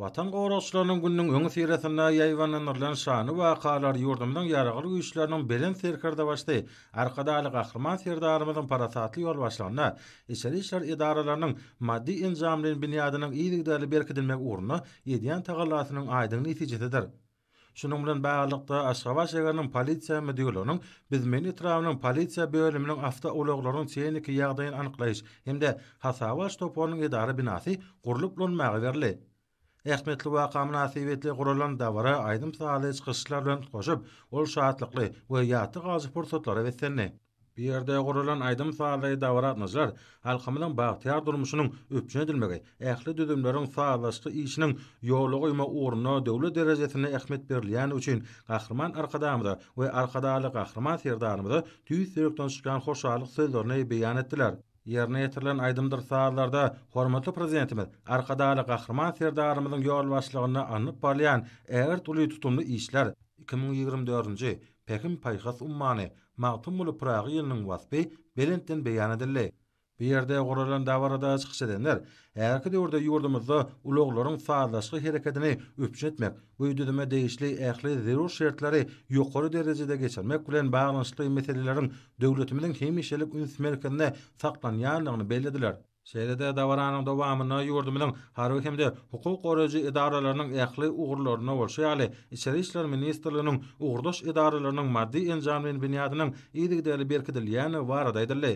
Watan goragçylarynyň gününiň öňüsyrasynda ýaýbaňlandyrylan şanly wakalar ýurdumyzyň Ýaragly Güýçleriniň Belent Serkerdebaşysy Arkadagly Gahryman Serdarymyzyň parasatly ýolbaşçylygynda içeri işler edaralarynyň maddy-enjamly binýadynyň yzygiderli berkidilmegi ugrunda edýän tagallasynyň aýdyň netijesidir. Şunuň bilen baglylykda, Aşgabat şäheriniň polisiýa müdirliginiň Bizmen etrabynyň polisiýa bölüminiň awtoulaglaryň tehniki ýagdaýyny anyklaýyş hem-de hasaba alyş toparynyň edara binasy gurlup ulanmaga berildi. Ähmiýetli waka mynasybetli guralan dabara aýdym-sazly çykyşlar bilen utgaşyp, ol şatlykly we ýatda galyjy pursatlary beslendi. Bu ýerde guralan aýdym-sazly dabaragatnaşlar halkymyzyň bagtyýar durmuşynyň üpjün edilmegi, ähli düzümleriň sazlaşykly işiniň ýola goýma ugrunda döwlet derejesinde ähmiýet berilýändigi üçin Gahryman Arkadagymyza we Arkadagly Gahryman Serdarymyza tüýs ýürekden çykýan hoşallyk sözlerini beýan etdiler. Ýerine ýetirilen aýdymdyr-sazlarda hormatly Prezidentimiz Arkadagly Gahryman Serdarymyzyň ýolbaşçylygynda alnyp barylýan ägirt uly tutumly işler, iki müň ýigrimi dördünji, Pähim-paýhas ummany Magtymguly Pyragy ýylynyň waspy belentden beýan edildi. Bu ýerde guralan dabarada çykyş edenler häzirki döwürde ýurdumyzda ulaglaryň sazlaşykly herekedini üpjün etmek we düzüme degişli ähli zerur şertleri ýokary derejede geçirmek bilen baglanyşykly meseleleriň döwletimiziň hemişelik üns merkezinde saklanýandygyny bellediler. Şeýle-de dabaranyň dowamynda ýurdumyzyň harby hem-de hukuk goraýjy edaralarynyň ähli ugurlaryna bolşy ýaly, Içeri işler ministrliginiň ugurdaş edaralarynyň maddy-enjamlaýyn binýadynyň yzygiderli berkidilýändigi barada aýdyldy.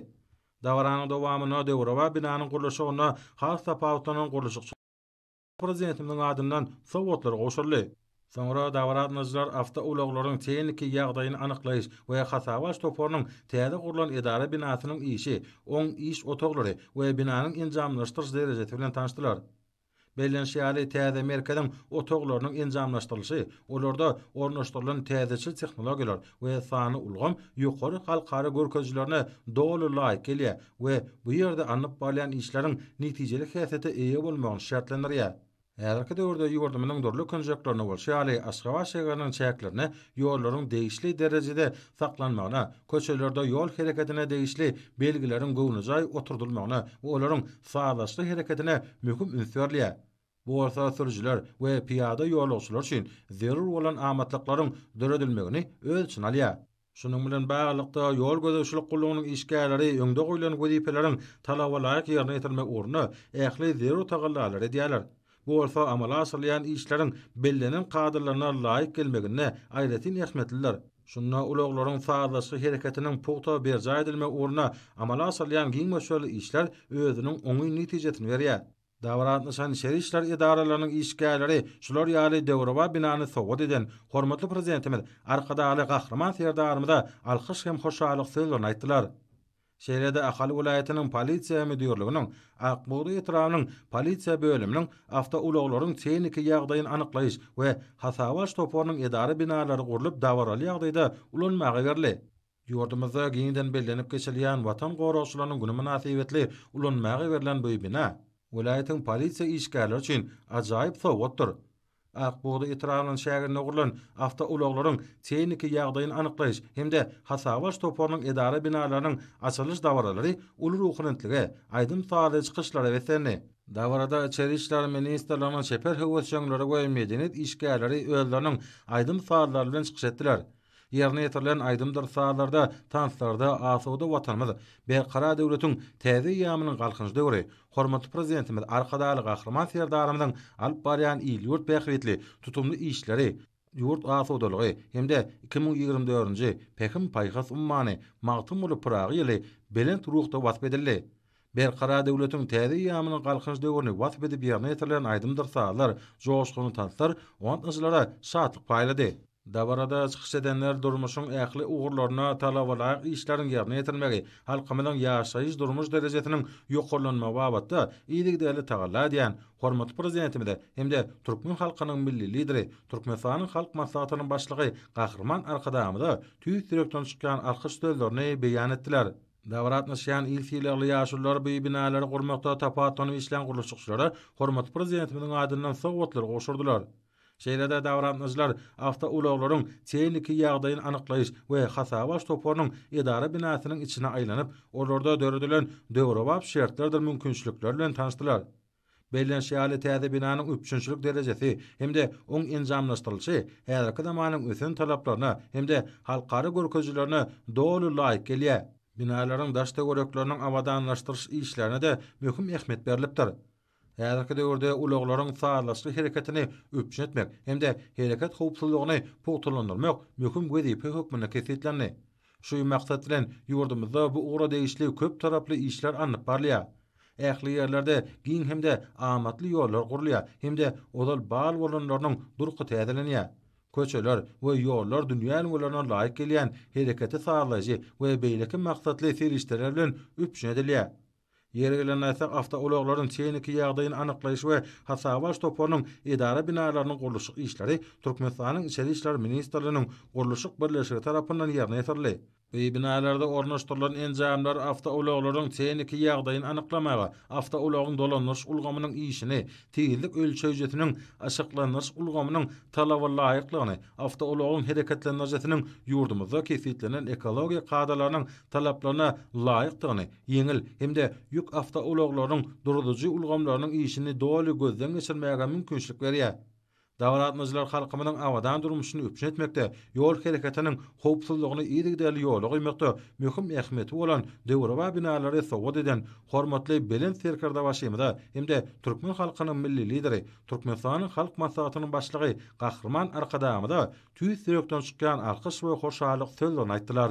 Dabaranyň dowamynda döwrebap binanyň gurluşygynda has tapawutlanan gurluşykçy. Prezidentimiziň adyndan sowgatlar gowşuryldy. Soňra dabaraanlaýjylar awtoulaglaryň tehniki ýagdaýyny anyklaýyş we hasabaç toparynyň täze gurlan edara binasynyň işi, oň iş otaglary we binanyň enjamlaşdyryş derejesi bilen tanyşdylar. Bellenişi ýaly, täze merkeziň otaglarynyň enjamlaşdyrylyşy, olarda ornaşdyrylan täzeçil tehnologiýalar we sanly ulgam ýokary halkara görkezijilerine doly laýyk gelýär, we bu ýerde alnyp barylýan işleriň netijeli häsiýete eýe bolmagyny şertlendirýär. Häzirki döwürde ýurdumyzyň dürli künjeklerinde bolşy ýaly, Aşgabat şägeriniň çäklerinde ýollaryň degişli derejede saklanmagyna, köçelerde ýol hereketine degişli belgileriň göwnejaý oturdylmagyna we olaryň sazlaşykly hereketine möhüm üns berilýär. Bu bolsa sürüjiler we pyýada ýolagçylar üçin zerur bolan amatlyklaryň döredilmegini öz içine alýar. Şunuň bilen baglylykda, ýol gözegçilik gullugynyň işgärleri öňde goýlan wezipeleriň talabalaýyk ýerine ýetirilmegi ugrunda ähli zerur tagallalary edýärler. Bu bolsa amala aşyrylýan işleriň bellenen kadalaryna laýyk gelmeginde aýratyn ähmiýetlidir. Şunda ulaglaryň sazlaşykly hereketiniň pugta berjaý edilmegi ugrunda amala aşyrylýan giň möçberli işler özüniň oňyn netijesini berýär. Dabara gatnaşan içeri işler edaralarynyň işgärleri şular ýaly döwrebap binany sowgat eden hormatly Prezidentimiz Arkadagly Gahryman Serdarymyza alkyş hem hoşallyk sözlerini aýtdylar. Şeýle-de Ahal welaýatynyň Polisiýa müdirliginiň Ak bugdaý etrabynyň Polisiýa bölüminiň awtoulaglaryň tehniki ýagdaýyny anyklaýyş we hasabaç toparynyň edara binalary gurlup dabaraly ýagdaýda ulanmaga berli. Ýurdumyzda giňden bellenip geçilýän Watan goragçylarynyň güni mynasybetli ulanmaga berlen bu bina welaýatyň polisiýa işgärleri üçin ajaýyp sowgatdyr. Ak bugda etrabynyň çäginde gurlan awtoulaglaryň tehniki ýagdaýyny anyklaýyş hem-de hasaba alyş toparynyň edara binalarynyň açylyş dabaralary uly ruhubelentlige, aýdym-sazly çykyşlara beslendi. Dabarada Içeri işler ministrliginiň çeper höwesjeňleri we medeniýet işgärleri özleriniň aýdym-sazlary bilen çykyş etdiler. Ýerine ýetirilen aýdymdyr sazlarda, tanslarda asuda Watanymyz, Berkarar döwletiň täze eýýamynyň Galkynyş döwri, hormatly Prezidentimiz Arkadagly Gahryman Serdarymyzyň alyp barýan il-ýurt bähbitli tutumly işleri, ýurt asudalygy hem-de iki müň ýigrimi dördünji Pähim-paýhas ummany Magtymguly Pyragy ýyly belent ruhda wasp edildi. Berkarar döwletiň täze eýýamynyň Galkynyş döwrüni wasp edip ýerine ýetirilen aýdymdyr sazlar, joşgunly tanslar gatnaşyjylara şatlyk paýlady. Dabarada çykyş edenler durmuşyň ähli ugurlarynda talabalaýyk işleriň ýerine ýetirilmegi, halkymyzyň ýaşaýyş-durmuş derejesiniň ýokarlanmagy babatda yzygiderli tagalla edýän hormatly Prezidentimize hem-de türkmen halkynyň Milli Lideri, Türkmenistanyň Halk Maslahatynyň Başlygy Gahryman Arkadagymyza tüýs ýürekden çykýan alkyş sözlerini beýan etdiler. Dabara gatnaşýan il sylagly ýaşulular bu binalary gurmakda tapawutlanyp işlän gurluşykçylara hormatly Prezidentimiziň adyndan sowgatlar gowşurdylar. Şeýle-de dabara gatnaşyjylar awtoulaglaryň tehniki ýagdaýyny anyklaýyş we hasaba alyş toparynyň edara binasynyň içine aýlanyp, olarda döredilen döwrebap şertlerdir mümkinçilikler bilen tanyşdylar. Bellenşi ýaly, täze binanyň üpjünçilik derejesi hem-de oň enjamlaşdyrylyşy häzirki zamanyň ösen talaplaryna hem-de halkara görkezijilerine doly laýyk gelýär. Binalaryň daş-töwerekleriniň abadanlaşdyryş işlerine-de möhüm ähmiýet berlipdir. Häzirki döwürde ulaglaryň sazlaşykly hereketini üpjün etmek hem-de hereket howpsuzlygyny pugtalandyrmak möhüm wezipe hökmünde kesgitlendi. Şu maksat bilen, ýurdumyzda bu ugra degişli köp taraply işler alnyp barylýar. Ähli ýerlerde giň hem-de amatly ýollar gurulýar hem-de ozal bal bolanlarynyň durky täzelenýär. Köçeler we ýollar dünýä ülňülerine laýyk gelýän hereketi sazlaýjy we beýleki maksatly serişdeler bilen üpjün edilýär. Ýeri gelende aýtsak, awtoulaglaryň tehniki ýagdaýyny anyklaýyş we hasaba alyş toparynyň edara binalarynyň gurluşyk işleri Türkmenistanyň Içeri işler ministrliginiň gurluşyk birleşigi tarapyndan ýerine ýetirildi. Bu binalarda ornaşdyrylan enjamlar awtoulaglaryň tehniki ýagdaýyny anyklamaga, awtoulagyň dolandyryş ulgamynyň işini, tizlik ölçeýjisiniň, yşyklandyryş ulgamynyň talaba laýyklygyny, awtoulagyň hereketlendiricisiniň ýurdumyzda kesgitlenen ekologiýa kadalarynyň talaplaryna laýykdygyny, ýeňil hem-de ýük awtoulaglarynyň duruzyjy ulgamlarynyň işini doly gözden geçirmäge mümkinçilik berýär. Dabara gatnaýjylar halkymyzyň abadan durmuşyny üpjün etmekde, ýol hereketiniň howpsuzlygyny yzygiderli ýola goýmakda möhüm ähmiýeti bolan döwrebap binalary sowgat eden hormatly Belent Serkerdebaşymyza hem-de türkmen halkynyň Milli Lideri, Türkmenistanyň Halk Maslahatynyň Başlygy Gahryman Arkadagymyza tüýs ýürekden çykýan alkyş we hoşallyk sözlerini aýtdylar.